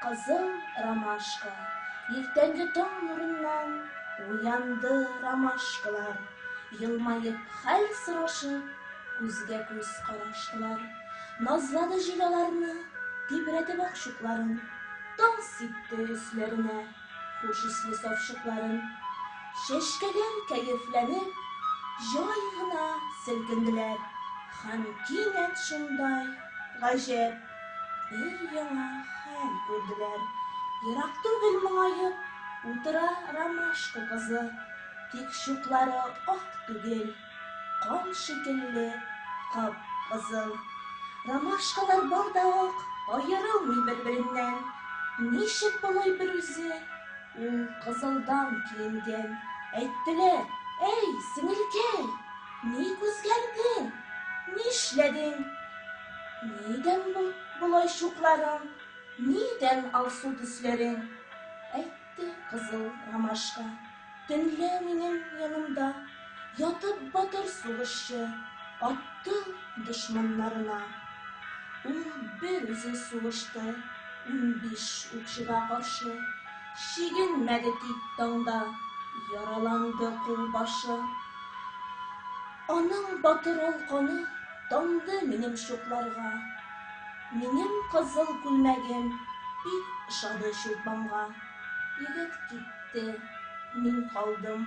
Кызыл ромашка, иртәнге таң нурыннан Уянды ромашкалар, елмаеп хәл сорашып, Күзгә-күз караштылар. Назлады җил аларны, тибрәтеп акчукларын, Таң сипте өсләренә хуш исле савчукларын. Чәчкәләр кәефләнеп, җай гына селкенделәр, Һәм кинәт шундай гаҗәп! Өр-яңа хәл күрделәр. Ерак түгел моңаеп утыра ромашка кызы. Тик чуклары ак түгел, кан шикелле кап-кызыл. Ромашкалар бар да ук, аерылмый бер-береннән. Ничек болай берүзе? Ул кызылдан киенгән. Әйттеләр, Әй, сеңелкәй, ник үзгәрдең? Нишләдең? Нидән бу болай чукларың? Нидән алсу төсләрең? Әйтте кызыл ромашка, Төнлә минем янымда Ятып батыр сугышчы атты дошманнарына. Ул бер үзе сугышты унбиш укчыга каршы, чигенмәде тик таңда, яраланды кулбашы. Аның батыр ул каны тамды минем чукларга, минем кызыл күлмәгем бик ошады чулпанга. Егет китте, мин калдым.